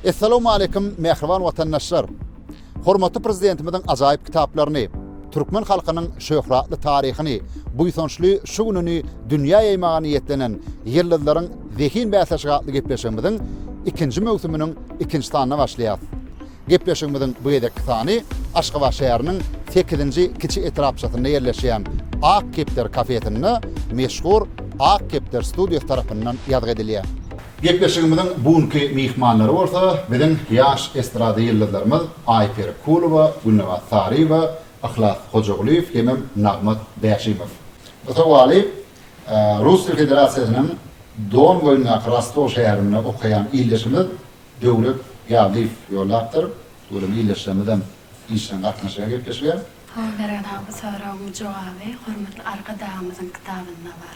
Essalawmaleýkim mähriban watandaşlar! Hormatly Prezidentimiziň ajaýyp kitaplaryny, türkmen halkynyň şöhratly taryhyny, buýsançly şu gününi dünýä ýaýmaga niýetlenen Ýyldyzlaryň zehin bäsleşigi atly gepleşigimiziň ikinji möwsüminiň ikinji sanyna başlaýarys. Gepleşigimiziň bu gezekki sany Aşgabat şäheriniň sekizinji kiçi etrapçasynda ýerleşýän Ak kepder kafesinde meşhur Ak kepder studiýasy tarapyndan ýazgy edilýär. Gepleşigimiziň bu günki myhmanlary bolsa biziň ýaş estrada ýyldyzlarymyz Aýperi Kulowa, Gülnabat Saryýewa, Yhlas Hojagulyýew hemem Nagmat Bäşimow. Bu sowaly Russiýa Federasiýasynyň Don boýundaky Rostow şäherinde okaýan ildeşimiz Döwlet Ýazlyýew ýollapdyr. Welin ildeşlerimizem işjeň gatnaşýar gepleşige. Salam Mergen aga bu soragyň jogaby hormatly Arkadagymyzyň kitabynda bar.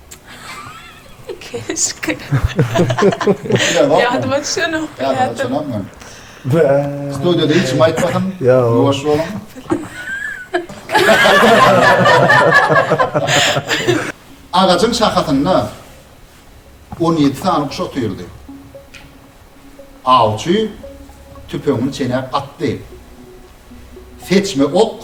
Keşke. Ýadyma düşenok. Ýadyňa düşenokmy? Studýada hiç kim aýtmasyn. Ýuwaş boluň. Agajyň şahasynda on ýedi sany guş otyrdy. Awçy tüpeňini çenäp atdy. Seçme ok